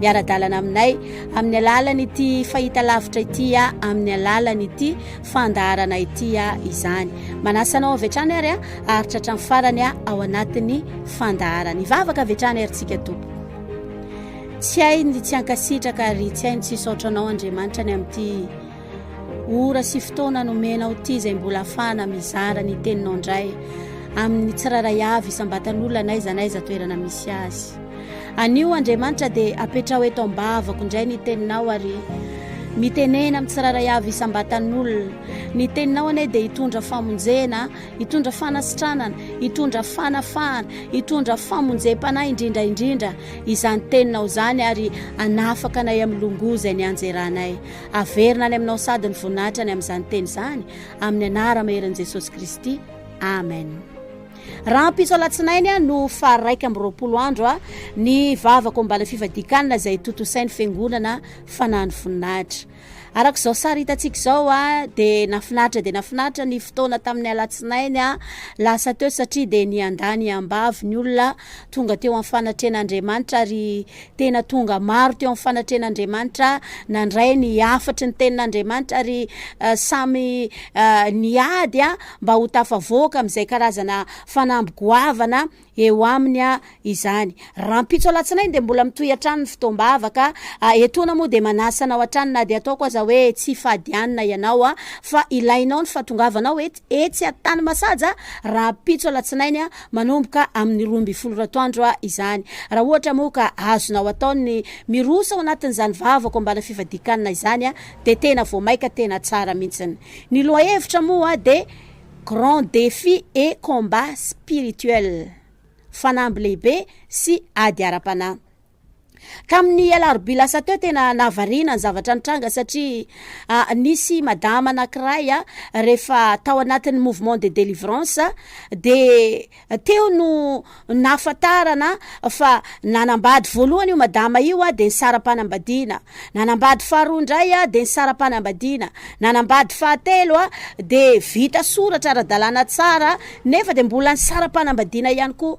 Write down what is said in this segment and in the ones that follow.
miara-dalana aminay amin'ny alalan'ity fahitalavitra ity a amin'ny alalan'ity fandaharana ity a izany manasa anao avy hatrany ary a aritra hatrany farany a ao anatin'ny fandaharana ivavaka avy hatrany arintsika tompo tsy hay ny tsy ankasitraka ary tsy hay ny tsy saotra anao andriamanitra ny amin'ity ora sy fotoana nomenao ity izay mbola afahana mizara ny teninao indray amin'ny tsiraray avy isam-batan'olona na iza na iza toerana misy azy Anio, Andriamanitra, dia apetraho eto am-bavako indray ny Teninao ary mitenena amin'ny tsirairay avy isam-batan'olona. Ny Teninao anie dia hitondra famonjena, hitondra fanasitranana, hitondra fanafahana, hitondra famonjem-panahy indrindra indrindra izany Teninao izany ary hanafaka anay amin'ny longoa izay nianjeranay. Averina any Aminao sady ny voninahitra any amin'izany Teny izany, amin'ny Anara-maherin'i Jesosy Kristy. Amen. Rahampitso alatsinainy no faha iraika amby roapolo andro ny vavaka ao ambala fivadikanina izay tontosain'ny fiangonana fanahin'ny voninahitra. Araka izao sary hitantsika izao dia nafinaritra dia nafinaritra ny fotoana tamin'ny alatsinainy lasa teo satria dia niandany ambavy ny olona tonga teo amin'ny fanatrehan'Andriamanitra ary Tena tonga maro teo amin'ny fanatrehan'Andriamanitra, nandray ny hafatry ny tenin'Andriamanitra ary samy niady mba ho tafavoaka amin'izay karazana fanamby goavana eo aminy izany. Rahampitso alatsinainy dia mbola mitohy hatrany ny fotoam-bavaka. Etoana moa dia manasa anao hatrany na dia ataoko aza hoe tsy fadianina ianao fa ilainao ny fahatongavanao etsy Antanimasaja rahampitso alatsinainy manomboka amin'ny roa ambin'ny folo ratoandro izany. Raha ohatra moa ka azonao atao ny miroso ao anatin'izany vavako ambana fifadian-kanina izany dia tena vao maika tena tsara mihitsiny. Ny lohahevitra moa dia Grand Defi et Combat Spirituel, Fanamby Lehibe sy Ady Ara-panahy. Tamin'ny alarobia lasa teo tena nahavariana ny zavatra nitranga satria nisy madama anankiray rehefa tao anatin'ny mouvement de délivrance dia teo no nahafantarana fa nanambady voalohany io madama io dia ny saram-panambadiana, nanambady faharoa indray dia ny saram-panambadiana, nanambady fahatelo dia vita soratra ara-dalàna tsara nefa dia mbola ny saram-panambadiana ihany koa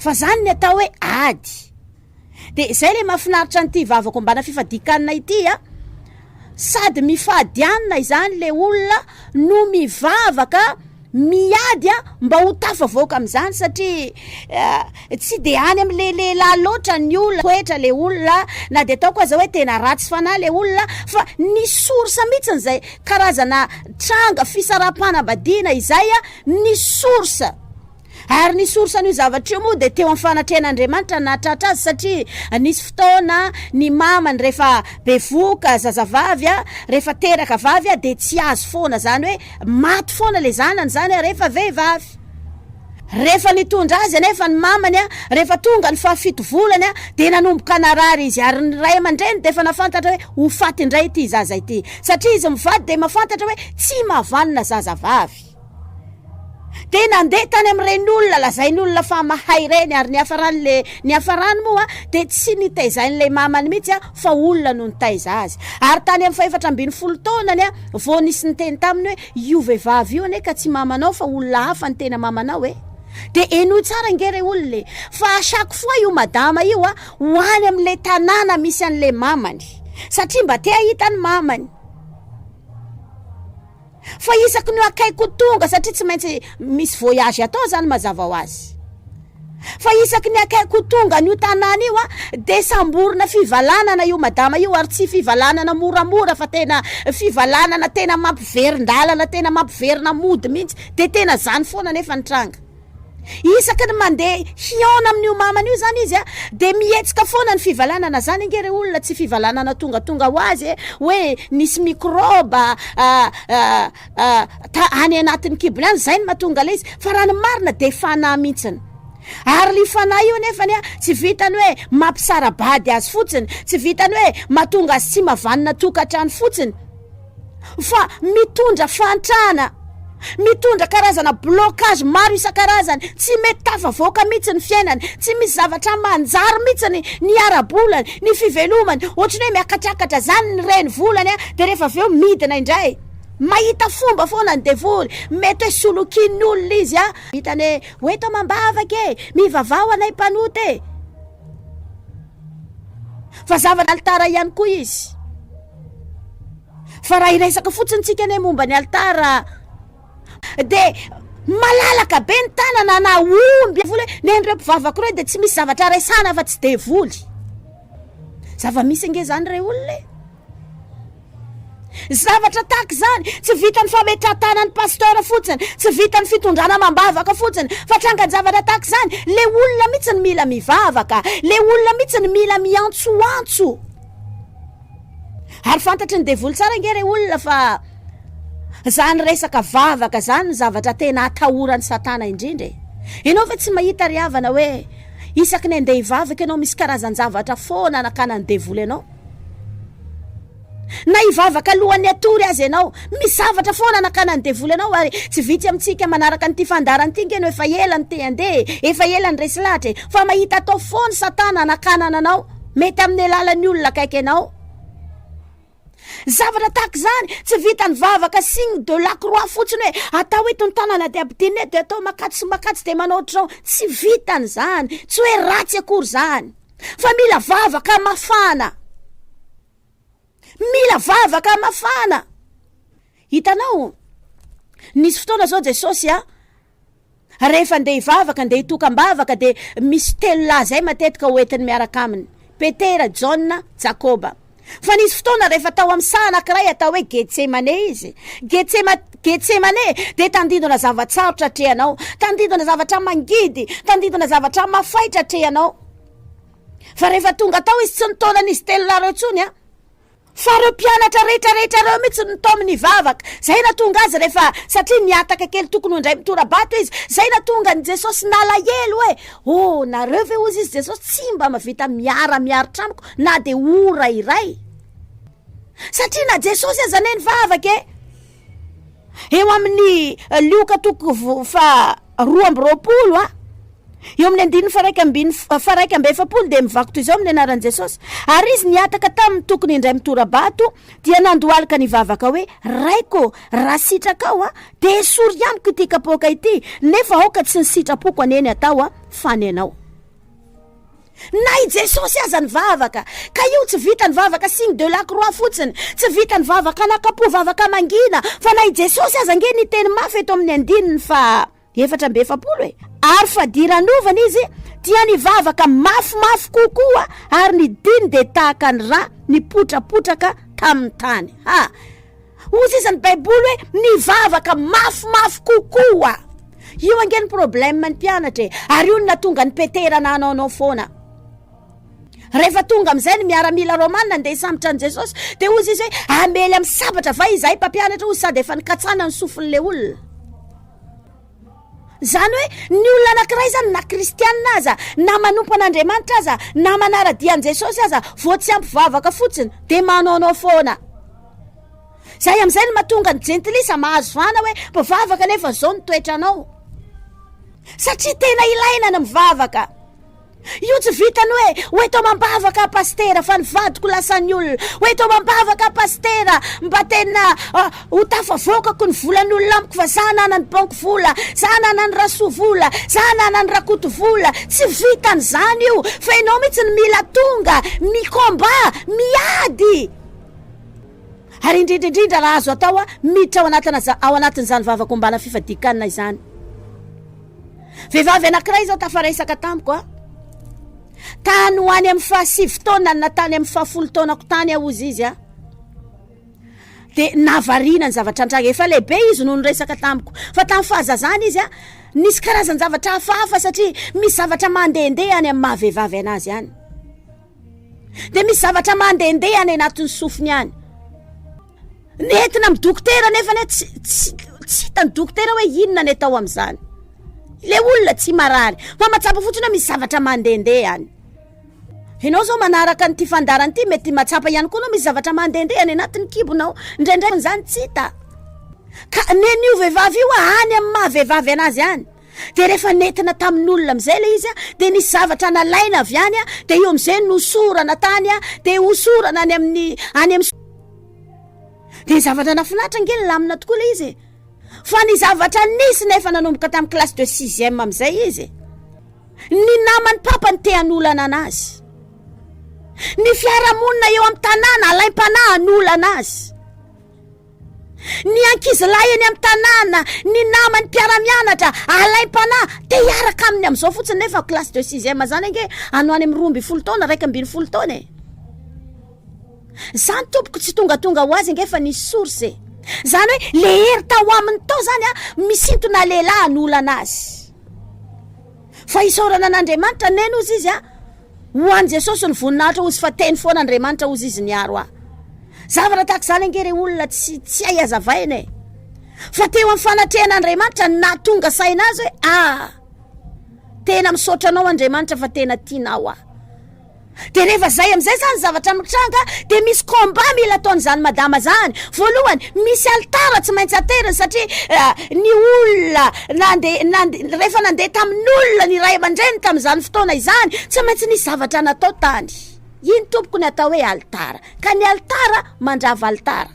Fa zany ny atao hoe ady. Dia zay le mafinaritra an'ity vavako ambana fifadian-kanina ity a! Sady mifady anina izany le olona no mivavaka miady a! mba ho tafavoaka amin'izany satria tsy dia any amin'le lehilahy loatra ny olona, toetra le olona, na dia ataoko aza hoe tena ratsy fanahy le olona fa ny source mihitsiny izay karazana tranga fisaraham-panambadiana izay a! ny source Ary ny source an'io zavatra io moa dia teo amin'ny fanatrehan'Andriamanitra ny nahatratra azy satria nisy fotoana ny mamany rehefa bevoka zazavavy a, rehefa teraka vavy a dia tsy azo foana izany hoe maty foana ilay zanany izany a rehefa vehivavy. Rehefa nitondra azy anefa ny mamany a, rehefa tonga ny fahafito volany a dia nanomboka narary izy ary ny ray aman-dreny dia efa nafantatra hoe ho faty indray ity zaza ity. Satria izy mivady dia mafantatra hoe tsy mahavanona zazavavy. dia nandeha tany amin'ireny olona lazainy olona fa mahay ireny ary ny hafarany le ny hafarany moa dia tsy nitaizain'ilay mamany mihitsy aho fa olona no nitaiza azy ary tany amin'ny fahefatra ambin'ny folo taonany aho vao nisy niteny taminy hoe io vehivavy io anie ka tsy mamanao fa olona hafa ny tena mamanao e dia henoy tsara ange re olona e fa chaque fois io madama io aho ho any amin'ilay tanàna misy an'ilay mamany satria mba te hahita ny mamany Fa isaky ny akaiky ho tonga satria tsy maintsy misy voyage atao zany mazava ho azy. Fa isaky ny akaiky ho tonga an'io tanàna io dia samborina fivalanana io madama io ary tsy fivalanana moramora fa tena fivalanana tena mampiverin-dalana tena mampiverina mody mihitsy dia tena zany foana nefa ny tranga. Isaky ny mandeha hihaona amin'io mamany io zany izy a, dia mihetsika foana ny fivalanana, zany ange re olona tsy fivalanana tongatonga ho azy e, hoe nisy mikrôba any anatin'ny kibony any, zay no mahatonga ilay izy, fa raha ny marina dia fanahy mintsiny. Ary io fanahy io nefany a, tsy vitany hoe mampisara-bady azy fotsiny, tsy vitany hoe mahatonga azy tsy mavanona tokantrano fotsiny, fa mitondra fahantrana, mitondra karazana blocage maro isan-karazany, tsy mety tafavoaka mihitsy ny fiainany, tsy misy zavatra manjary mihitsy ny ny ara-bolany, ny fivelomany, ohatry ny hoe miakatrakatra zany ny reny volany a, de rehefa avy eo midina indray, mahita fomba foana ny devoly, mety hoe solokian'ny olona izy a, hitany hoe, ho eto amam-bavaka e, mivavaha ho anay mpanota e. fa zavatra alitara ihany koa izy fa raha hiresaka fotsiny tsika anie momba ny alitara de malalaka be ny tanana na omby vola hoe nen'ireo mpivavako ireo de tsy misy zavatra resana fa tsy devoly zava-misy ange zany re olona e Zavatra tahaka izany, tsy vitan'ny fametrahan-tanan'ny pasteur fotsiny, tsy vitan'ny fitondrana amam-bavaka fotsiny, fa trangan-javatra tahaka izany, ilay olona mihitsy no mila mivavaka, ilay olona mihitsy no mila miantsoantso. Ary fantatry ny devoly tsara ange ilay olona fa izany resaka vavaka izany no zavatra tena atahoran'i Satana indrindra e. Ianao ve tsy mahita ry havana hoe isaky ny andeha hivavaka ianao misy karazan-javatra foana anakanan'ny devoly anao? Na hivavaka alohan'ny hatory aza ianao, misy zavatra foana anakanan'ny devoly anao ary tsy vitsy amintsika manaraka an'ity fandaharana ity nge no efa ela no te-handeha e, efa ela niresy lahatra e, fa mahita atao foana satana anakanana anao, mety amin'ny alalan'ny olona akaiky anao. Zavatra tahaka izany, tsy vitan'ny vavaka signe de la croix fotsiny hoe atao eto ny tanana dia ampidinina eto dia atao makatso sy makatso dia manao ohatr'izao, tsy vitan'izany, tsy hoe ratsy akory izany. fa mila vavaka mafana mila vavaka mafana hitanao nisy fotoana zao jesosy a rehefa ndeha hivavaka ndeha hitokam-bavaka de misy telo lahy zay matetika hoentiny miaraka aminy petera jaona jakoba Fa nisy fotoana rehefa tao amin'ny saha anankiray atao hoe Getsemane izy. Getsema, Getsemane dia tandindona zava-tsarotra atrehanao, tandindona zavatra mangidy, tandindona zavatra mafaitra atrehanao. Fa rehefa tonga tao izy tsy nitaona an'izy telo lahy ireo intsony an. Fa ireo mpianatra rehetra rehetra ireo mihitsy no tao amin'ny vavaka. Zay na tonga azy rehefa satria nihataka kely tokony ho indray mitora-bato izy. Zay na tonga ny Jesosy nalahelo hoe oh nareo ve ozy izy Jesosy tsy mba mavita miara miaro tranoko na dia ora iray satria na Jesosy aza anie nivavaka e eo amin'ny lioka toko fa roa amby roapolo a eo amin'ny andininy faraika ambiny faraika amby efapolo dia mivakotra izao amin'ny anaran'i Jesosy ary izy niataka tamin'ny tokony indray mitorabato dia nandohalika ny vavaka hoe raiko raha sitrakao a dia esory amiko ity kapoaka ity nefa aoka tsy ny sitrapoko aneny atao a fa ny anao Na i Jesosy aza nivavaka, ka io tsy vitan'ny vavaka signe de la croix fotsiny, tsy vitan'ny vavaka anakapo, vavaka mangina, fa na i Jesosy aza ange niteny mafy eto amin'ny andininy faha efatra amby efapolo e, ary fadiranovana izy dia nivavaka mafimafy kokoa ary ny diny dia tahaka ny rà nipotrapotraka tamin'ny tany. Ha! Hoy sisa ny baiboly hoe mivavaka mafimafy kokoa. Io ange ny problème ny mpianatra e. Ary io no natonga ny Petera nanao anao foana. Rehefa tonga amin'izay ny miaramila romana ndeha hisambotra an'i Jesosy dia hoy izy hoe hamely amin'ny sabatra va izahay mpampianatra hoy sady efa nikatsana ny sofin'ilay olona. Izany hoe ny olona anankiray izany na kristianina aza, na manompo an'Andriamanitra aza, na manara-dia an'i Jesosy aza vao tsy hampivavaka fotsiny dia manaonao foana. Izay amin'izay no mahatonga ny jentilisa mahazo vahana hoe mpivavaka nefa izao ny toetranao. Satria tena ilaina ny mivavaka. Io tsy vitan'ny hoe ho eto amam-bavaka aho Pasitera fa ny vadiko lasan'ny olona, ho eto amam-bavaka aho Pasitera mba tena ho tafavoakako ny volan'olona amiko fa za ananan'i Banky vola, za ananan'i Rasoa vola, za ananan'i Rakoto vola, tsy vitan'izany io fa ianao mihitsy no mila tonga mi-combat, miady! Ary indrindra indrindra raha azo atao miditra ao anatin'izany vavaka ombana fifadian-kanina izany. Vehivavy anankiray izao tafaresaka tamiko a. Tany ho any amin'ny fahasivy taona na tany amin'ny fahafolo taonako tany aho hozy izy a. Dia navarina ny zavatra antranga. Efa lehibe izy no niresaka tamiko. Fa tamin'ny fahazazany izy a, nisy karazan-javatra hafahafa satria misy zavatra mandehandeha any amin'ny maha vehivavy anazy any. Dia misy zavatra mandehandeha any anatin'ny sofiny any. Nentina amin'ny dokotera nefa anie tsy tsy tsy hitan'ny dokotera hoe inona ny atao amin'izany. Ilay olona tsy marary fa mahatsapa fotsiny hoe misy zavatra mandehandeha any. Ianao izao manaraka an'ity fandaharana ity mety mahatsapa ihany koa ianao misy zavatra mandehandeha any anatin'ny kibonao, indraindray izany tsy hita. Ka nen'io vehivavy io any amin'ny maha vehivavy anazy any. Dia rehefa nentina tamin'olona amin'izay ilay izy, dia nisy zavatra nalaina avy any, dia io amin'izay no nosorana tany, dia hosorana any amin'ny, any amin'ny. Dia zavatra nafinatra ange nilamina tokoa ilay izy e! Fa ny zavatra nisy nefa nanomboka tamin'ny classe de sixième amin'izay izy, ny naman'ny papany te hanolana anazy. Ny fiarahamonina eo amin'ny tanàna alaim-panahy hanolana azy. Ny ankizilahy eny amin'ny tanàna, ny namany mpiara-mianatra, alaim-panahy, te hiaraka aminy amin'izao fotsiny nefa classe de sixième izany ange anao any amin'ny roa ambin'ny folo taona, iraika ambin'ny folo taona e! Izany tompoko tsy tongatonga ho azy ange efa nisy source e! Izany hoe le hery tao aminy tao izany an, misintona lehilahy hanolana azy. Fa hisaorana an'Andriamanitra neny ozy izy ah! Ho an'i Jesosy ny voninahitra ozy fa teny foana Andriamanitra ozy izy niaro ahy. Zavatra tahaka izany ange re olona tsy tsy hay azavaina e! Fa teo amin'ny fanatrehan'Andriamanitra ny nahatonga saina azy hoe ah! Tena misaotra anao Andriamanitra fa tena tianao aho. De rehefa zay amizay zany zavatra mitranga de misy combat mila ataony zany madama zany, voalohany misy alitara tsy maintsy ateriny satria ny olona nande nande rehefa nande tamin'olona ny ray aman-dreniny tamizany fotoana izany tsy maintsy nisy zavatra natao tany, iny tompoko ny atao hoe alitara ka ny alitara mandrava alitara.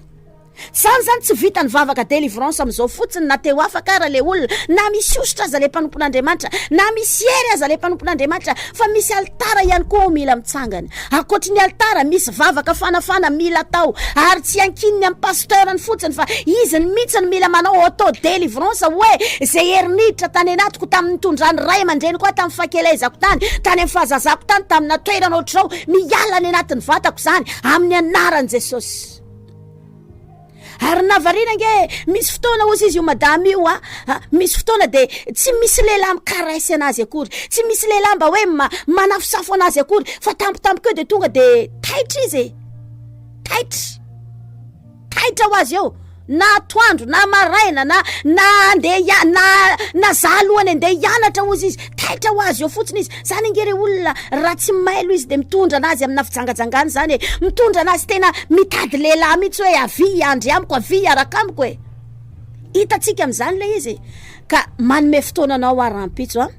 Zany zany tsy vita ny vavaka delivrance amizao fotsiny na teo afaka ara le olona na misy osotra aza le mpanompon'Andriamanitra na misy hery aza le mpanompon'Andriamanitra fa misy alitara ihany koa ao mila mitsangana akoatry ny alitara misy vavaka fanafana mila atao ary tsy ankininy amin'ny pasteur ny fotsiny fa izy ny mihitsy ny mila manao auto delivrance hoe ze hery niditra tany anatiko tamin'ny nitondran'ny ray aman-dreniko aho tamin'ny fahakelezako tany tany amin'ny fahazazako tany tamina toerana ohatr'izao miala any anatin'ny vatako izany amin'ny anaran'i Jesosy ary na variana nge misy fotoana ozy izy io madama io a ah, ah, misy fotoana de tsy misy lehilahy mikarese anazy akory tsy misy lehilahy mba hoe manafosafo anazy akory fa tampotampoka eo de tonga de taitra izy e. taitra taitra ho azy eo na toandro na maraina na na andeha na na za alohany andeha hianatra ozy izy taitra ho azy eo fotsiny izy Zany ange re olona raha tsy mailo izy de mitondra anazy amina fijangajangana zany e, mitondra anazy tena mitady lehilahy mitsy hoe avia hiandry amiko, avia hiaraka amiko e, hitatsika amizany le izy ka manome fotoana anao ah rahampitso ah,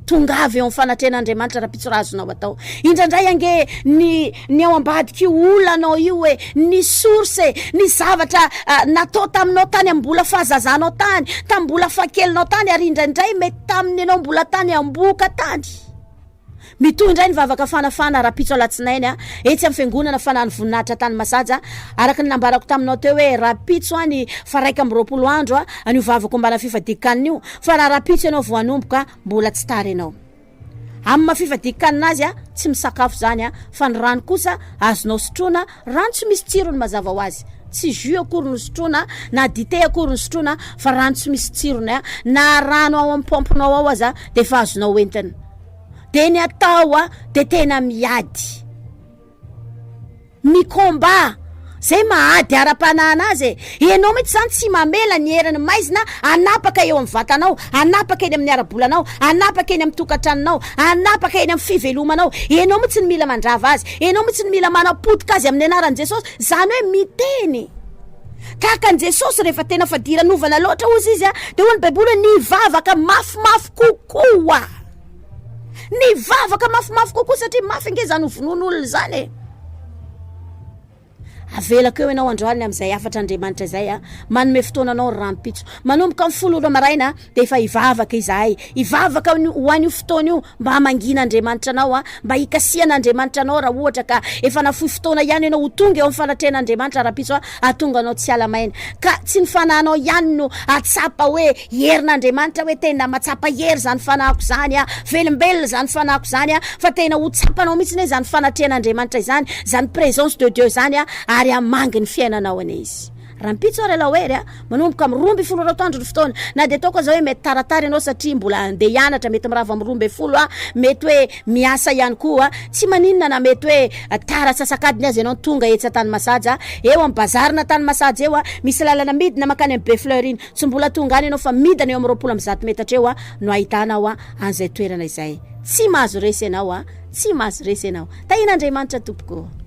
tongava eo am fanatrehan'Andriamanitra rahampitso raha azonao atao, indraindray ange ny ny ao ambadik'io olanao io e, ny source e, ny zavatra natao taminao tany am bola fahazazanao tany, tam bola fahakelinao tany ary indraindray mety. Tamin'ny ianao mbola tany Ambohoka tany. Mitohy indray ny vavaka fanafahana rahampitso alatsinainy etsy amin'ny fiangonana fanahin'ny voninahitra tany Masaja. Araka ny nambarako taminao teo hoe rahampitso any fa raika amby roapolo andro an'io vavaka ombana fifadian-kanina io fa raha rahampitso ianao vao hanomboka mbola tsy tara ianao amin'ny maha fifadian-kanina azy tsy misakafo izany fa ny rano kosa azonao sotroina Rano tsy misy tsirony mazava ho azy, tsy jus akory no sotroina na dite akory no sotroina fa rano tsy misy tsirony a, na rano ao amin'ny pompe nao ao aza dia efa azonao entina. Dia ny atao a, dia tena miady, mi-combat, zay maha ady ara-panahana azy e. Ianao mihitsy izany tsy mamela ny herin'ny maizina hanapaka eo amin'ny vatanao, hanapaka eny amin'ny ara-bolanao, hanapaka eny amin'ny tokantranonao, hanapaka eny amin'ny fivelomanao. Ianao mihitsy no mila mandrava azy. Ianao mihitsy no mila manapotika azy amin'ny anaran'i Jesosy. Izany hoe miteny tahaka an'i Jesosy rehefa tena fadiranovana loatra hozy izy a! Dia hoy ny Baiboly hoe nivavaka mafimafy kokoa. Nivavaka mafimafy kokoa satria mafy ange izany ho vonoin'olona izany e! Avelako eo ianao androany amin'izay hafatr'Andriamanitra izay an! Manome fotoana anao ny rahampitso. Manomboka amin'ny folo ora maraina dia efa hivavaka izahay. Hivavaka ho an'io fotoana io mba hamangiana Andriamanitra anao an! Mba hikasihana Andriamanitra anao raha ohatra ka efa nafoy fotoana ihany ianao ho tonga eo amin'ny fanatrehan'Andriamanitra rahampitso an! Hahatonga anao tsy hiala maina. Ka tsy ny fanahinao ihany no hahatsapa hoe Herin'Andriamanitra hoe tena mahatsapa hery izany fanahiko izany a, velombelona izany fanahiko izany a, fa tena ho tsapanao mihitsy anie izany fanatrehan'Andriamanitra izany, izany présence de Dieu izany a, ary hamangy ny fiainanao anie Izy. Rahampitso ary alao hery a, manomboka amin'ny roa ambin'ny folo ora atoandro ny fotoana, na dia ataoko aza hoe mety taratara ianao satria mbola handeha hianatra, mety mirava amin'ny roa ambin'ny folo a, mety hoe miasa ihany koa, tsy maninona na mety hoe tara antsasak'adiny aza ianao no tonga etsy Antanimasaja, eo amin'ny bazarina Antanimasaja eo a, misy lalana midina makany amin'ny Befleur iny. Tsy mbola tonga any ianao fa midina eo amin'ny roapolo amby zato metatra eo no ahitanao an'izay toerana izay. Tsy mahazo resy ianao a! Tsy mahazo resy ianao. Tahian'Andriamanitra tompoko ô!